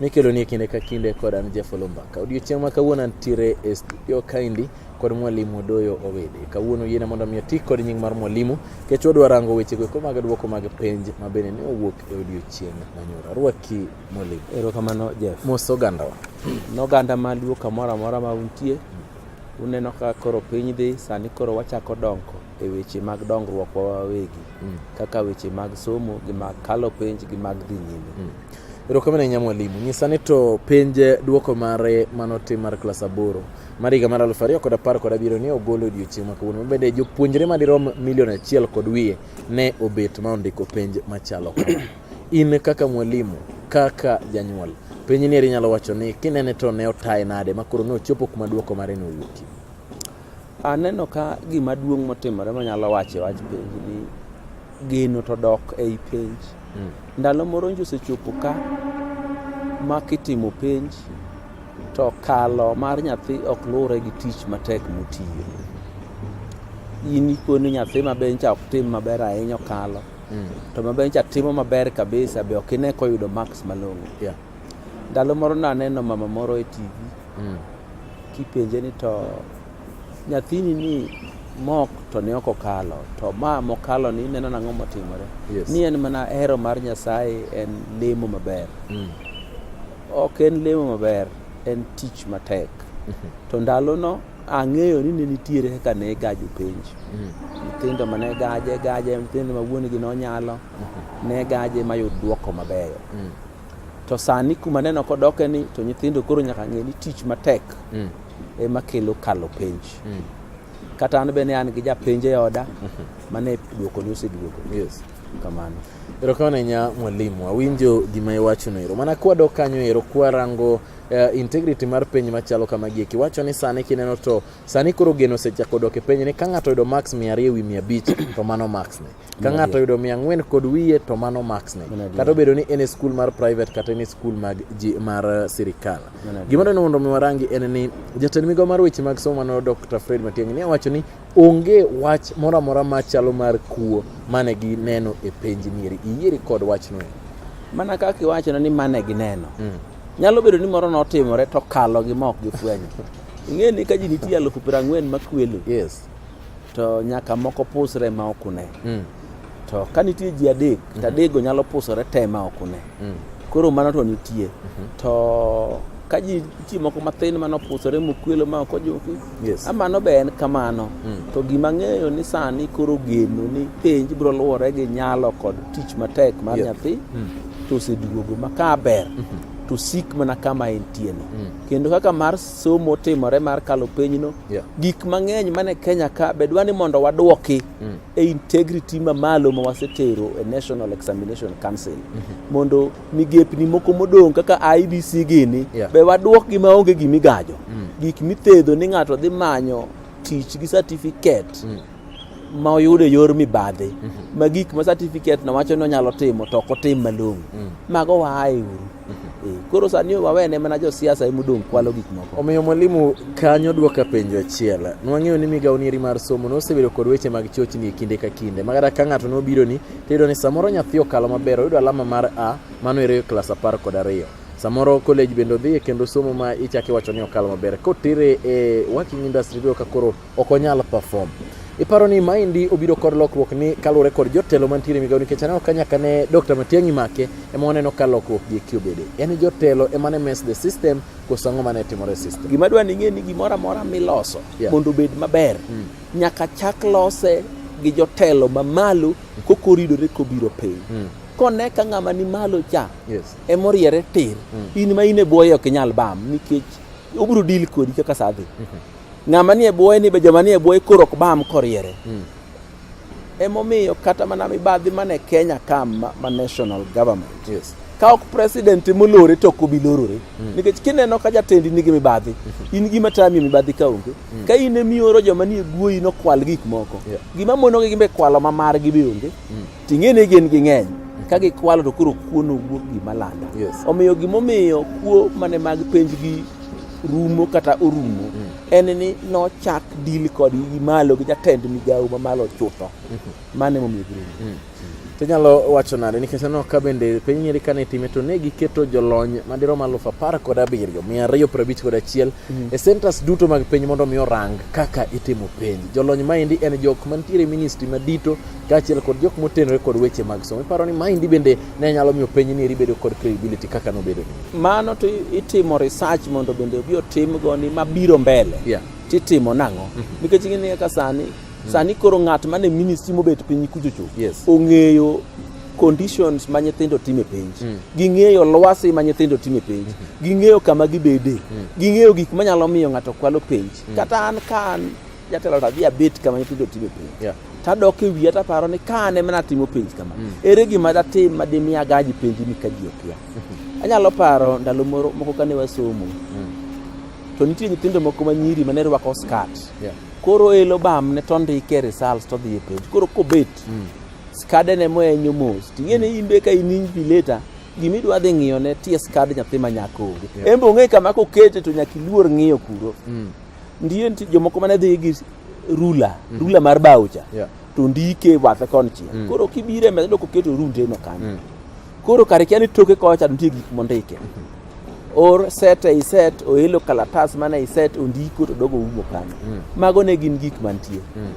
mikeloni e kinde ka kinde kod an Jafolo Mbaka. Odiochieng' ma kawuono antiere e studio kaendi kod mwalimu Doyo Owede. Kawuono yiena mondo mi oti kod nying mar mwalimu kech wadwa rango wechego eko mag dwoko mag penj ma bende ne owuok e odiochieng' manyoro. Arwaki mwalimu. Erokamano Jeff. Mos ogandawa. Noganda maluo kamoro amora ma untie, uneno ka koro piny dhi, sani koro wachako dongo. e weche mag dongruokwa wawegi mm. kaka weche mag somo gi mag kalo penj gi mag dhi nyime mm. erokamano ahinya mwalimu nyisa ni to penj duoko mare manotim mar klas aboro mar higa mar aluf ariyo kod apar kod abiriyo ne ogolo odiochieng' ma kawuono mabende jopuonjre madirom milion achiel kod wiye ne obet ma ondiko penj machalo in kaka mwalimu kaka janyuol penj ni eri nyalo wacho ni kinene to ne otaye nade makoro ne ochopo kuma duoko mare ne owuokie Aneno ka gima duong' motimore manyalo wacho e wach penj ni geno to dok ei penj. Mm. Ndalo moro nji osechopo ka ma kitimo penj to kalo mar nyathi ok luwre gi tich matek motiyo. In ikoni nyathi maber nyicha ok tim maber ahinya okalo. Mm. To maber nyicha timo maber kabisa be ok ine koyudo marks malong'o. Yeah. Ndalo moro naneno mama moro e TV mm. kipenje ni to nyathini ni mok to ne ok okalo to ma mokalo ni ineno nang'o motimore yes. ni en mana hero mar nyasaye en lemo maber mm. ok en lemo maber en tich matek mm -hmm. to ndalono ang'eyo ni ne nitiere kaka ne gajo penj mm. nyithindo ma ne gaje gaje nyithindo ma wuonegi nonyalo mm -hmm. ne gaje mayud dwoko mabeyo mm. To sani kuma neno kodoke ni to nyithindo koro nyaka ng'e ni tich matek mm. ema kelo kalo penj. Mm. Kata an bende an gi japenj e oda mm-hmm. mane duoko ni oseduogo. Yes. Kamano. Erokamano ahinya mwalimu, awinjo gima iwachono ero. Mana kwadok kanyo ero kwarango uh, integrity mar penj machalo kama gieki wacho ni sani kineno to sani koro geno osechako dok e penj ni ka ng'ato oyudo max mia ariyo e wi mia abich to mano max ne ka ng'ato yudo mia ang'wen kod wiye to mano max ne kata obedo ni en e skul mar private kata en e skul mag ji mar eh, sirikal gima dwani mondo mi warangi en ni jatend migawo mar weche mag somo mano dr fred matiang'i ne owacho ni onge wach moro amora machalo mar kuo mane gineno e penj nieri iyieri kod wachno e mana kaka iwachono ni mane gineno mm. nyalo bedo ni moro notimore to kalo gi ma ok gifwenyo ing'e ni ka ji nitie alufu piero ang'wen makwelo yes to nyaka moko pusre ma ok une mm. to ka nitie ji adek mm -hmm. to adekgo nyalo pusore te ma ok une mm. koro mano to nitie mm -hmm. to ka ji nitie moko mathin mano pusore mokwelo ma ok ojuki yes. amano be en kamano mm. to gima ng'eyo ni sani koro geno ni penj biro luwore gi nyalo kod tich matek mar yep. nyathi mm. to oseduogo ma ka ber mm -hmm. to sik mana kama entieno mm. kendo kaka mar somo timore mar kalo penyno yeah. gik mang'eny mane Kenya ka bedwa ni mondo wadwoki mm. e integrity mamalo ma wasetero e National Examination Council mm -hmm. mondo migepni moko modong' kaka IBC gini yeah. be wadwokgi maonge gimigajo mm. gik mithedho ni ng'ato dhi manyo tich gi certificate mm. ma oyudo e yor mibadhi mm -hmm. ma gik ma certificate no wacho ni onyalo timo to ok otim malong'o mm. mago waaye uru Eh, koro sani wawene mana josiasa ema odong' kwalo gik moko. Omiyo mwalimu, kanyo dwoka penjo achiel. Nwang'eyo ni migawo nieri mar somo nosebedo kod weche mag chochni e kinde ka kinde. Ma kata ka ng'ato nobironi, tiyudo ni samoro nyathi okalo maber, oyudo alama mar A, mano ere klas apar kod ariyo. Samoro college bende odhiye kendo somo ma ichako iwacho ni okalo maber. Kotere e working industry iyudo ka koro ok onyal perform. Iparo ni maendi obiro kod lokruok ni kaluwore kod jotelo mantiere migawo nikech aneno ka nyaka ne Dr. Matiang'i make ema waneno ka lokruok gi eki obede. En jotelo ema ne mess the system koso ang'o mane timore e system. Gima dwa ning'e ni gimoro amora miloso yeah. mondo obed maber mm. nyaka chak lose gi jotelo mamalo kokoridore kobiro piny mm. kone ka ng'ama ni malo cha yes. emoriere tir mm. in ma in e bwoye ok inyal bam nikech obiro dil kodi kaka sadhi mm -hmm. Ng'ama nie bwoye ni be joma nie bwoye koro ok bam koriere. Mm. Emomiyo kata mana mibadhi mane Kenya ka ma national government. Yes. Ka ok president molore to ok obi lorore. Mm. Nikech kineno ka jatendi nigi mibadhi, mm -hmm. in gima tami mibadhi ka onge. Mm. Ka in emioro joma nie bwoyi nokwal gik moko. Yeah. Gima monogi gimbe kwalo ma margi be onge. Mm. Ting'e ni gin ging'eny ka gikwalo to koro kuo nowuok gima landa yes. omiyo gimomiyo kuo mane mag penj gi rumo kata orumo mm. en ni nochak dil kod gi malo gi jatend migawo ma malo chutho mm -hmm. mane momiyo girumo mm. to nyalo wacho nade nikech aneno ka bende piny nyeri kane itime to ne giketo jolony madirom aluf apar kod abiriyo mia ariyo piero abich kod achiel mm. e centers duto mag piny mondo mi orang kaka itimo penj jolony maendi en jok mantiere ministry madito kaachiel kod jok motenore kod weche mag somo. Iparo ni maendi bende ne nyalo miyo piny ni ribedo kod credibility kaka nobedo ni. Mano to itimo research mondo bende obi otim goni mabiro mbele. Yeah. Titimo nang'o? Mm -hmm. Nikech ing'e ni kaka sani mm -hmm. sani koro ng'at mane ministry mobet piny kuchocho yes. ong'eyo conditions ma nyithindo time penj mm. ging'eyo lwasi ma nyithindo time penj mm. ging'eyo kama gibede mm. ging'eyo gik manyalo miyo ng'ato kwalo penj mm. kata an ka an Jatelo tadhi abet kama nyithindo time penj. Yeah. Tadok e wiya taparo ni ka an ema natimo penj kama. Mm. Ere gima datim ma dimi agaji penji ni ka ji okia. Mm-hmm. Anyalo paro ndalo moro moko kane wasomo. Mm. To nitie nyithindo moko ma nyiri mane rwako skat. Yeah. Koro elo bam ne to ndike results to dhi e penj. Koro kobet. Mm. Skade ne mo enyo mos. Ting'ene mm. imbe ka in injury later gima idwa dhi ng'iyo ne ties card nyathi ma nyako onge yeah. embe ong'e kama kokete to nyaka iluor ng'iyo kuro mm. Ndiye nitie jomoko mane dhi gi rula, mm -hmm. rula mar baucha. Yeah. To ndike bathe kon chien. Mm. Koro kibire me doko keto runde no kanyo. Mm. Koro kare kiani toke kocha nitie gik mondike. Mm -hmm or set ei set oelo kalatas mana ei set ondiko to dogo umo kanyo mm. mago ne gin gik mantie mm.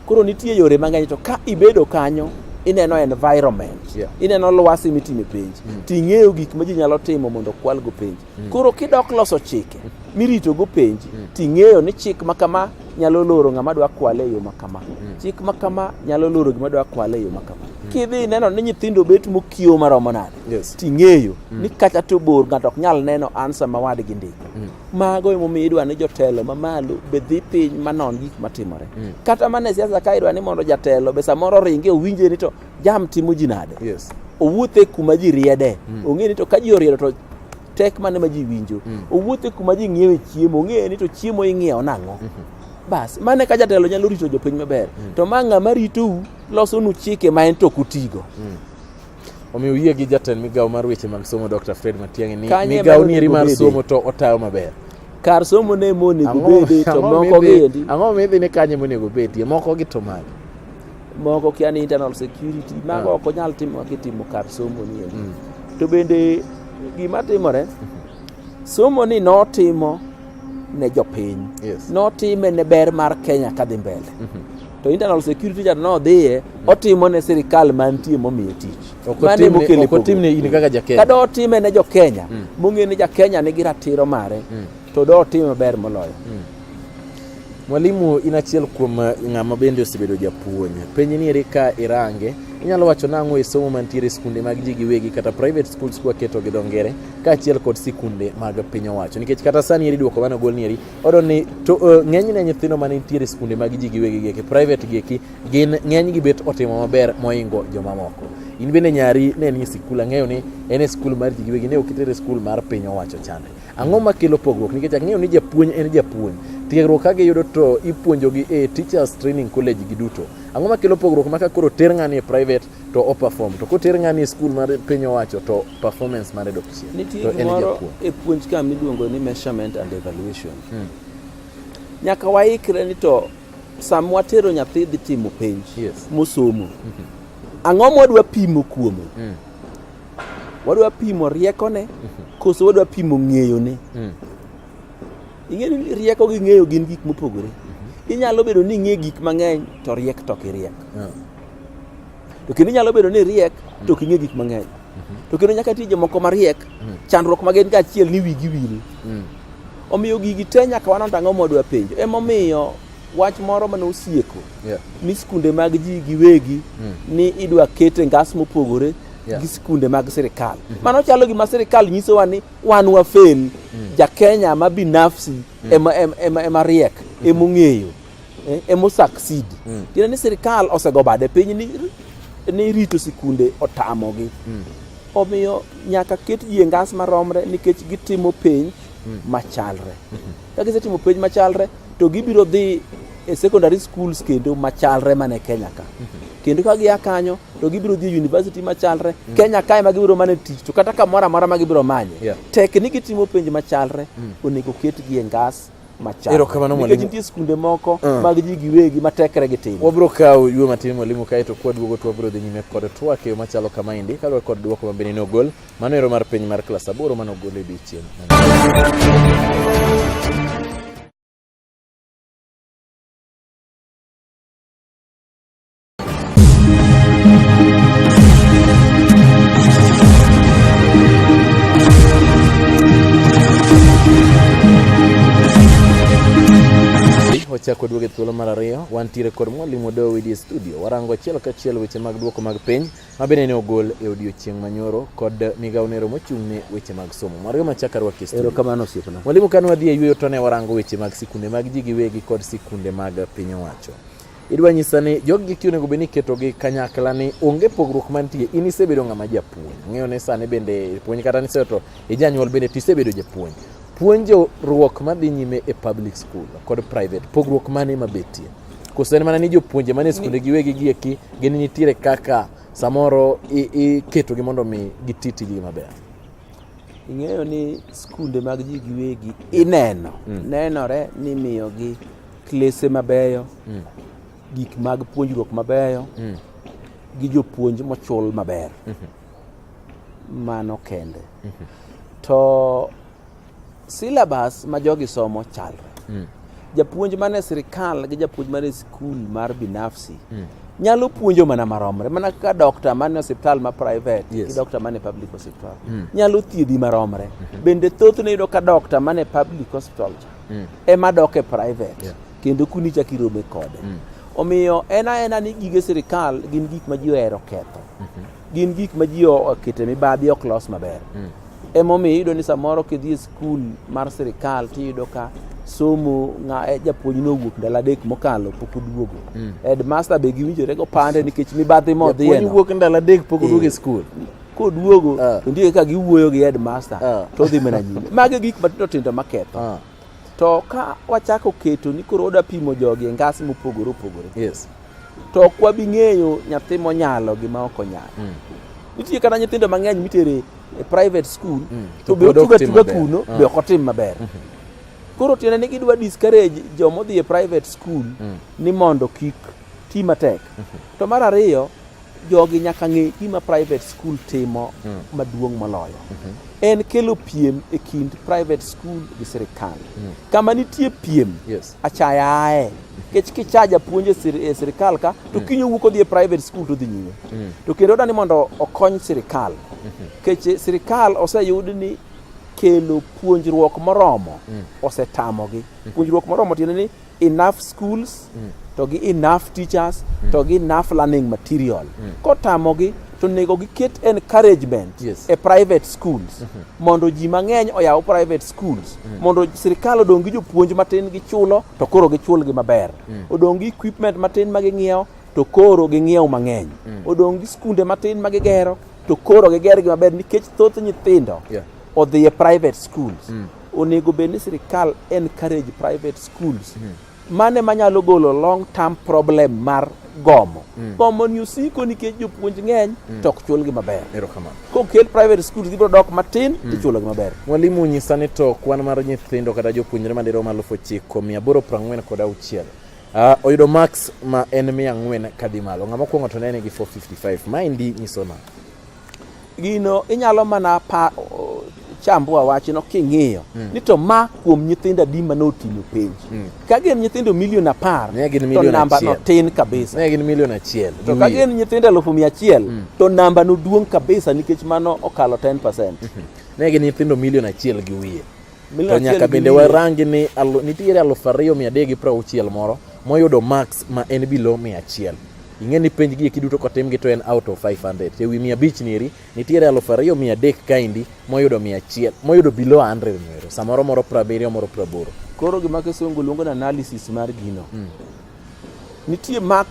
koro nitie yore mang'eny to ka ibedo kanyo ineno environment yeah. ineno lwasi mitime penj mm. ting'eyo gik ma ji nyalo timo mondo kwalgo penj Mm. Koro kidok loso chike mirito go penji mm. ting'eyo ni chik ma kama nyalo loro ng'ama dwa kwale e yo ma kama. Mm. Chik ma kama nyalo loro gima dwa kwale e yo ma kama. Kidhi neno ni nyithindo bet mokiewo maromo nade yes. ting'eyo ni kata to bor ng'ato ok nyal neno ansa ma wadgi ndiko. Mago emomiyo idwa ni jotelo mamalo be dhi piny manon gik matimore. Kata mana e siasa ka idwa ni mondo jatelo be samoro ringe owinje ni to jam timo ji nade yes. owuothe kuma ji riede mm. ong'e ni to ka ji oriedo to tek mane ma ji winjo mm. owuothe kuma ji ng'iewe chiemo ong'e ni to chiemo ing'iewo nang'o mm -hmm bas mane ka jatelo nyalo rito jopiny maber mm. to ma ng'ama ritou losonu chike ma en to kutigo mm. omiyo yie gi jatend migawo mar weche mag somo dr fred matiang'i ni migawo nieri mar somo to otayo maber kar somo ne monego bedi to moko giendi ang'o midhi ni kanye monego bedie moko gi to mage moko kia ni internal security mago ah. ok onyal timo kitimo kar somo ni mm. to bende gima timore somo ni notimo ne jopiny yes. notime ne ber mar Kenya kadhi mbele mm -hmm. to internal security cha nodhiye mm. otimo ne sirikal mantie momiye tich otimne in kaka jakenya kada otime ne jokenya mm. mong'e ni jakenya nigi ratiro mare mm. to do otime maber moloyo mm. Mwalimu, in achiel kuom eh, ng'ama bende osebedo japuonj. Penj ni eri ka irange, inyalo wacho nang'o e somo mantiere e skunde mag ji giwegi kata private schools kwa keto gi dongere ka achiel kod sikunde mag piny owacho. Nikech kata sani eri duoko mano gol ni eri, odo ni to uh, ng'eny ne nyithindo mane nitiere e skunde mag ji giwegi gi private gi eki gin ng'eny gi bet otimo maber moingo jomamoko. In bende nyari ne ni sikula ng'eyo ni en e skul mar ji giwegi ne okitere skul mar piny owacho chande. Ang'o makelo pogruok? Nikech ang'eyo ni japuonj en japuonj. Tiegruok ka giyudo to ipuonjogi e Teachers Training College giduto. Ang'o makelo pogruok ma ka koro ter ng'ani e private to o perform to koter ng'ani e skul mar piny owacho to performance mare dok chien. Nitie To en gimoro japuonj. e puonj ka miluongo ni measurement and evaluation. Mm. Nyaka waikre ni to sama watero nyathi dhi timo penj Yes. mosomo, ang'o mwadwa pimo kuome? Mm. Wadwa pimo riekone koso wadwa pimo ng'eyone? Mm. Ing'e ni rieko gi ng'eyo gin gik mopogore. Mm-hmm. Inyalo bedo ni ing'e gik mang'eny to riek to ok iriek. Yeah. To kendo inyalo bedo ni riek to ok ing'e gik mang'eny. Mm-hmm. To kendo nyaka tije moko mariek, mm. chandruok ma gin kaachiel ni wigi wil. Mm. Omiyo gigi te nyaka wanon ang'o mwadwa penjo. Emomiyo wach moro mane osieko yeah. ni sikunde mag ji giwegi mm. ni idwa kete ngas mopogore yeah. gi sikunde mag sirikal mm -hmm. mano chalo gima sirikal nyisowa ni wan wafel mm. jakenya ma binafsi mm. ema, ema, ema, ema riek mm -hmm. emong'eyo eh, emosucceed mm. tiende ni sirikal osego bade piny ni, ni rito sikunde otamogi mm. omiyo nyaka ket ji e ngas maromre nikech gitimo piny mm. machalre mm -hmm. Ka gisetimo penj machalre to gibiro dhi e secondary schools kendo machalre mane Kenya ka. Kendo ka gia kanyo to gibiro dhi e university machalre mm. Kenya kae ma gibiro mane tich to kata kamoro amora ma gibiro manye. Yeah. Tek ni gitimo penj machalre mm. onego ketgi e ngas machaknikech nitie skunde moko uh. mag ji giwegi matekre gi tim wabiro kawo ywe matin mwalimu kaeto kwaduogo to wabiro dhi nyime kod twak e yo machalo kamaendi kaluwore kod dwoko mabende ne ogol Mano ero mar penj mar klas aboro mane ogol e odiechieng'. wachako duogo e thuolo mar ariyo. Wantiere kod mwalimu Odoyo Widi e studio, warango achiel kachiel weche mag duoko mag penj ma bende ne ogol e odiechieng' manyoro kod migawo nero mochung' ne weche mag somo. Mwarga machaka rwaki studio. Erokamano osiepna. Mwalimu kane wadhi e yueyo to ne warango weche mag sikunde mag ji giwegi kod sikunde mag piny owacho. Idwa nyisa ni jogi ti onego bed ni iketogi kanyakla ni onge pogruok mantie. In isebedo ng'ama japuonj. Ng'eyo ni sani bende puonj kata ni seto ijanyuol bende to isebedo japuonj. Puonjo ruok madhi nyime e public school kod private pogruok mane mabetie? koso en mana ni jopuonje mane skunde giwegi gieki gin nitiere kaka samoro iketogi mondo mi giti tijgi maber ing'eyo ni skunde mag ji giwegi ineno mm. nenore ni miyogi klese mabeyo mm. gik mag puonjruok mabeyo mm. gi jopuonj mochul maber mm -hmm. mano kende mm -hmm. to Syllabus ma jogi somo chalre. Mm. Japuonj mane sirikal gi japuonj mane skul mar binafsi mm. nyalo puonjo mana maromre mana kaka dokta mane osiptal ma private yes. gi dokta mane public hospital mm. nyalo thiedhi maromre mm -hmm. bende thothne yudo ka dokta mane public hospital cha mm. ema dok e private yeah. kendo kuni chak irome kode mm. omiyo en aena ni gige sirikal gin gik ma ji ohero ketho mm -hmm. gin gik ma ji okete mibadhi ok los maber mm. emomiyo iyudo ni samoro kidhi e skul mar sirikal tiyudo ka somo nga e, japuonj nowuok ndalo adek mokalo pok oduogo mm. headmaster be giwinjore go pande nikech mibadhi modhiyeno wuok ndalo adek pok oduogo e eh. skul koduogo uh. Ah. to ndike ka giwuoyo gi headmaster uh. Ah. to dhi mana nyime magi gik matindo tindo maketho uh. To ka wachako keto ni koro oda pimo jogi e ngas mopogore opogore. Yes. To ok wabi ng'eyo nyathi monyalo gi ma ok onyalo. Mm. Nitie kata nyithindo mang'eny mitere e private school mm. to be otuga tuga kuno ah. be ok otim maber. Mm -hmm. Koro tiende ni gidwa discourage joma odhi e private school mm. ni mondo kik ti matek. Mm -hmm. To mar ariyo jogi nyaka ng'e gima private school timo mm. maduong' moloyo mm -hmm. en kelo piem e kind private school gi sirikal mm. kama nitie piem yes. achaya aye kech kichaja puonje e sirikal ka to mm. kinyo wuok odhi e private school to dhi nyime mm. to kendo odani mondo okony sirikal mm -hmm. kech sirikal oseyud ni kelo puonjruok moromo mm. osetamogi mm. puonjruok moromo tiende ni enough schools mm. to gi enough teachers mm. to gi enough learning material mm. kotamogi to onego giket encouragement yes. e private schools mm -hmm. mondo ji mang'eny oyaw private schools mm. mondo sirikal odong' gi jopuonj matin gichulo to koro gichulgi maber mm. odong' gi equipment matin ma ging'iewo to koro ging'iewo mang'eny mm. odong' gi skunde matin ma gigero to koro gigergi maber nikech thoth nyithindo yeah. odhi e private schools mm. Onego bed ni sirkal encourage private schools. Mm -hmm. Mane manyalo golo long term problem mar gomo mm. gomo ni osiko nikech jopuonj ng'eny mm. to ok chulgi maber kokel private schools gibiro dok matin mm. tichulogi maber mwalimu nyisa ni to kwan mar nyithindo kata jopuonjre madirom aluf ochiko mia aboro prang'wen kod auchiel Uh, oyudo max ma en mia ang'wen kadhi malo ng'ama okuong'o to nene gi 455 maendi nyiso nang'o Gino inyalo mana pa chambua wachno king'iyo mm. ni to ma kuom nyithindo adi ma notimo penj mm. ka gin nyithindo milion apar to namba no tin kabisa ne gin milion achiel to ka gin nyithindo elfu mia achiel mm. to namba no duong kabisa nikech mano okalo 10 percent mm -hmm. ne gin nyithindo milion achiel gi wiye To nyaka bende warangi ni nitiere aluf ariyo mia adek gi piero auchiel moro moyudo max ma en bilo mia achiel ing'e ni penj gi eki duto kotimgi to en out of 500 to ewi mia abich niri nitiere aluf ariyo mia adek kaendi moyudo mia achiel moyudo below 100 nero samoro moro prabiriyo moro praboro koro gima kisungu luongo ni analysis mar gino mm. nitie max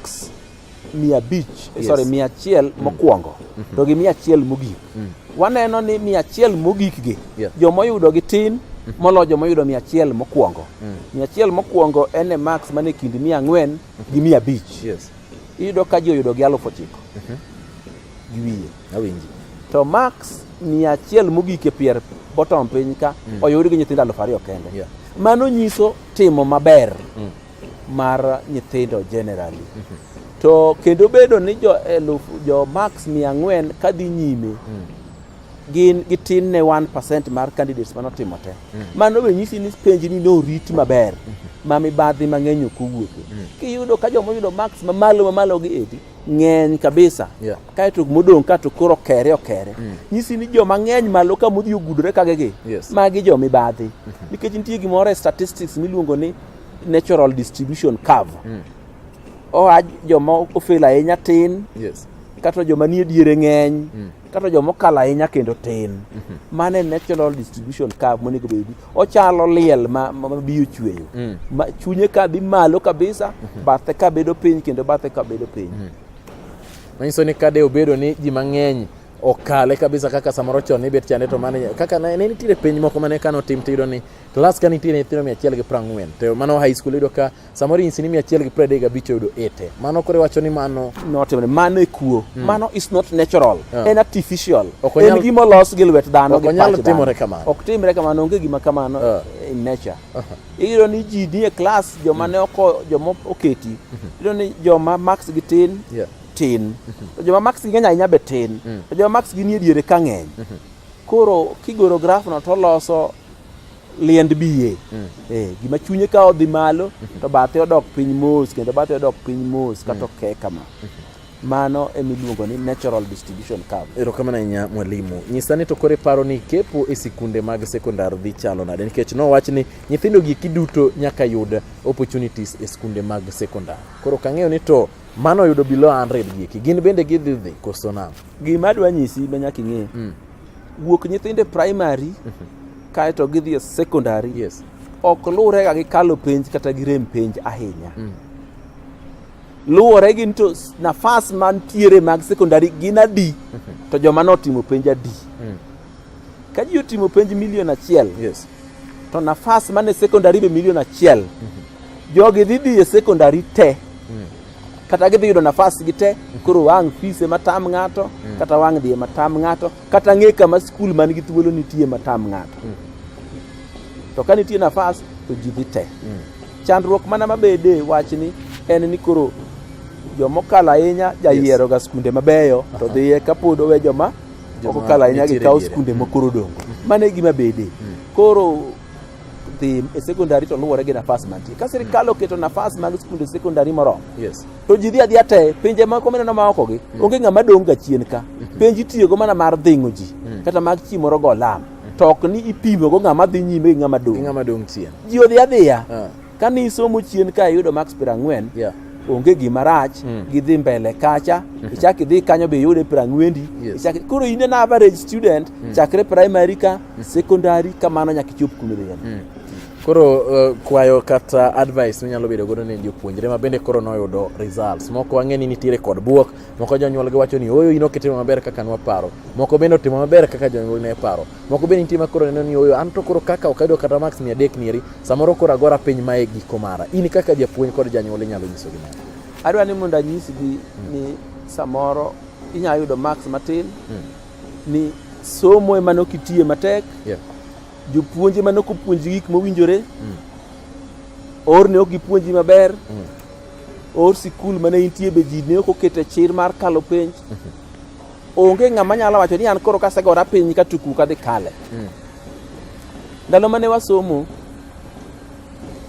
mia abich yes. sorry mia achiel mm. mokwongo mm -hmm. to gi mia achiel mogik mm. waneno ni mia achiel mogik gi yeah. jomoyudo gi tin mm. molo jomoyudo mia achiel mokwongo mm. mia achiel mokwongo en e max man e kind mia ang'wen mm -hmm. gi mia abich yes. iyudo ka ji oyudo gi alufu ochiko mm -hmm. gi wiye awinji to max mia achiel mogik e pier bottom piny ka mm. oyud gi nyithindo alufu ariyo kende yeah. mano nyiso timo maber mm. mar nyithindo generally to kendo bedo ni jo eluf jo max mia ang'wen kadhi nyime gin gitin ne 1% mar candidates mane otimo te mano be nyisi ni penj ni norit maber ma mibadhi mang'eny ok owuoke kiyudo ka joma oyudo max mamalo mamalo gi edi ng'eny kabisa Yeah. kaeto modong' kato koro okere okere nyisi ni joma ng'eny malo ka modhi ogudore kagegi Yes. magi jo mibadhi nikech nitie gimoro e statistics miluongo ni natural distribution curve mm. oa joma ofel ahinya tin yes. kata joma nie diere ng'eny mm. kata joma okal ahinya kendo tin mm -hmm. mano e natural distribution curve monego bed ochalo liel ma, ma, ma biyo chweyo mm. ma, chunye ka dhi malo kabisa mm -hmm. bathe ka bedo piny kendo bathe ka bedo piny mm. manyiso ni kade obedo ni ji mang'eny okale kabisa kaka samoro chon nibet chande to mane kaka ne nitiere penj moko mane kano tim tiyudo ni klas ka nitiere nyithindo mia achiel gi prang'wen to mano high school iyudo ka samoro inyisi ni mia achiel gi pradek gabich oyudo ete mano kore wacho ni mano notimre mano e kuo hmm. mano is not natural yeah. en artificial en gima olos gi lwet dhano gi pach dhano timore kamano ok timre kamano onge gima kamano yeah. in nature uh -huh. iyudo ni ji nie klas joma ne oko joma oketi mhm. iyudo ni joma max gi tin yeah. tin to joma max gi ng'eny ahinya be tin mm. to joma max gi nie diere ka ng'eny mm-hmm. koro kigoro graf no to loso liend biye mm. eh, gima chunye ka odhi malo mm-hmm. to bathe odok piny mos kendo bathe odok piny mos kata mm. oke kama mm-hmm. mano emiluongo ni natural distribution curve erokamano ahinya mwalimu nyisa ni to kore paro ni kepo e sikunde mag sekondar dhi chalo nade nikech nowach ni nyithindo gi kiduto nyaka yud opportunities e sikunde mag sekondar koro kang'eyo ni to Mano yudo below 100 gieki. Gin bende gidhi dhi koso nam. Gima adwa nyisi ma nyaka ing'e. Mm. Wuok nyithinde primary mm -hmm. kae to gidhi e secondary. Yes. Ok luwre ga gi kalo penj kata gi rem penj ahinya. Mm. Luwore gi to nafas mantiere mag secondary gin adi mm -hmm. to joma notimo penj adi. Mm. Ka ji otimo penj milion achiel. Yes. to nafas mane secondary be milion achiel mhm. jogi dhi dhi e secondary te mm. kata gidhi yudo nafas gi te mhm. koro wang' fees ema tam ng'ato mm. kata wang' dhi ema tam ng'ato kata ng'e kama skul man gi thuolo nitie ema tam ng'ato mm. to ka nitie nafas to ji dhi te chandruok mana mabede wachni en ni koro jomokalo ahinya jayieroga skunde mabeyo to dhiye kapod owe joma ok okalo ahinya gi kawo skunde ma koro dongo mm. mano e gima bede mm. koro dhi e sekondari to luwore gi nafas mantie ka sirikal mm. oketo nafas mag skunde sekondari moromo to ji dhi adhiya te pinje moko mineno ma okogi onge ng'ama dong' ga chien ka mm-hmm. penj itiyogo mana mar dhing'o ji kata mag chi moro go lam to ok ni ipimogo ng'ama dhi nyime gi ng'ama dong' ji odhi adhiya ah. Ka ni isomo chien ka iyudo max piero ang'wen, Yeah. onge gima rach Mm. gidhi mbele kacha ichak idhi kanyo be iyude piero ang'wendi Yes. ichak- koro in an average student chakre primary ka secondary kamano nyaka ichop kuma idhi yani. Koro uh, kwayo kata advice minyalo bedo godo ne jopuonjre ma bende koro noyudo results. Moko wang'e ni nitiere kod buok, moko jonyuolgi wacho ni oyo in ok itimo maber kaka nwaparo. Moko bende otimo maber kaka jonyuolgi ne paro. Moko be nitie ma koro neno ni oyo an to koro kaka ok ayudo kata max mia adek nieri, samoro koro agora piny ma e giko mara. In kaka japuonj kod janyuol inyalo nyiso gima. Adwa ni mondo anyisgi hmm. ni samoro inyalo yudo max matin hmm. ni somo ema nokitiye matek yeah. jopuonje ma nokopuonji gik mowinjore mm. or ne ok gipuonji maber mm. or sikul mane intie be ji ne ok okete chir mar kalo penj mm -hmm. Onge ng'ama nyalo wacho ni an koro kasegora piny ka tuku ka dhi kale. Mm. Ndalo mane wasomo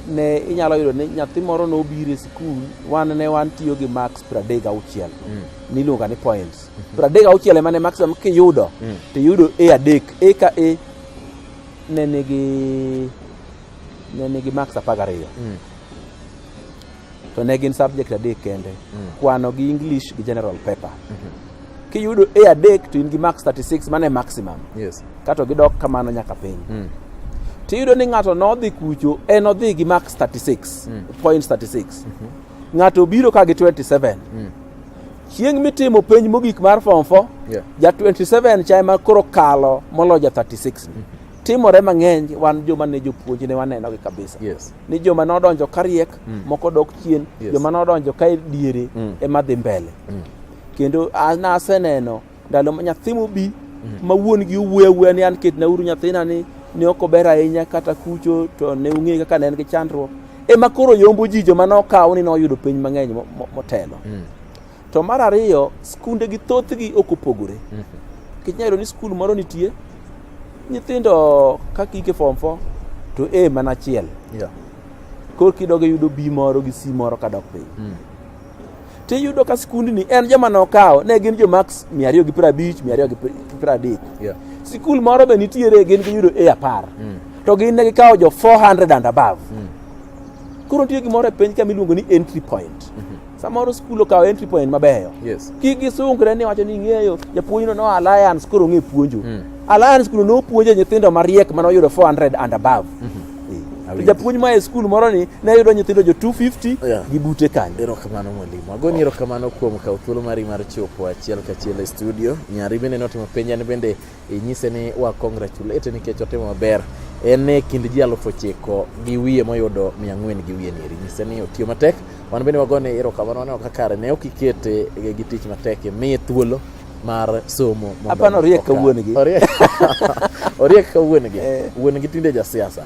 ne inyalo yudo ni nyathi moro nobiro e sikul wan ne wan tiyo gi max pradek auchiel mm. niluonga ni points mm -hmm. pradek auchiel emane maximum kiyudo mm. to iyudo e adek e ka e ne nigi ne nigi max apar gariyo mm. to ne gin subject adek kende mm. kwano gi english gi general paper mm -hmm. kiyudo a adek to in gi max 36 mane maximum yes. kato gidok kamano nyaka piny mm. tiyudo ni ng'ato nodhi kucho en odhi gi max 36 mm. point 36 mm -hmm. ng'ato obiro ka gi 27 mm. chieng' mitimo penj mogik mar form 4 yeah. ja 27 cha ema koro kalo molo ja 36 mm -hmm. timore mang'eny wan joma ne jopuonj ne wanenogi kabisa yes. ni joma nodonjo kariek mm. moko dok chien yes. joma nodonjo ka diere mm. ema dhi mbele mm. kendo naseneno ndalo ma nyathi mobi mm. ma wuon gi owuoyo awuoya ni an ketnauru nyathina ni ne ok ober ahinya kata kucho to ne ung'e kaka ne en gi chandruok ema koro yombo ji joma nokaw ni noyudo piny mang'eny motelo mm. To mar ariyo, skunde gi thothgi ok opogore. Mhm. Nikech nyalo ni skul moro nitie, nyithindo kaka ike form 4 to A mana achiel. Yeah. Koro kidogo yudo B moro gi C moro kadok piny. Mm. Tiyudo ka skundni en joma nokawo ne gin jo max 250, 230. Yeah. Skul moro be nitiere gin giyudo A apar. Mm. To gin ne gikawo jo 400 and above. Mm. Koro nitie gimoro e piny ka miluongo ni entry point. Mm -hmm. Samoro skul okawo entry point mabeyo. Yes. Kik gisungre ni wacho ni ing'eyo japuonjno no alliance koro ong'e puonjo. Mm. Alliance kuno nopuonjo nyithindo mariek mane oyudo 400 and above. Mm -hmm. To japuonj ma e skul moro ni ne yudo nyithindo jo 250 yeah. gi bute kanyo. Erokamano mwalimu. Agoni oh. erokamano kuom kawo thuolo mari mar chopo achiel kachiel e studio. Nyari bende notimo penja ni bende inyise ni wa congratulate nikech otimo maber en e kind ji alufu ochiko gi wiye moyudo mia ang'wen gi wiye nieri nyise ni otiyo matek wan bende wagone erokamano waneno ka kare ne ok ikete gi tich matek imiye thuolo mar somo mondo Hapana, oriek ka okaw. wuon gi. Oriek- oriek ka wuon gi Eh. wuon gi tinde jasiasa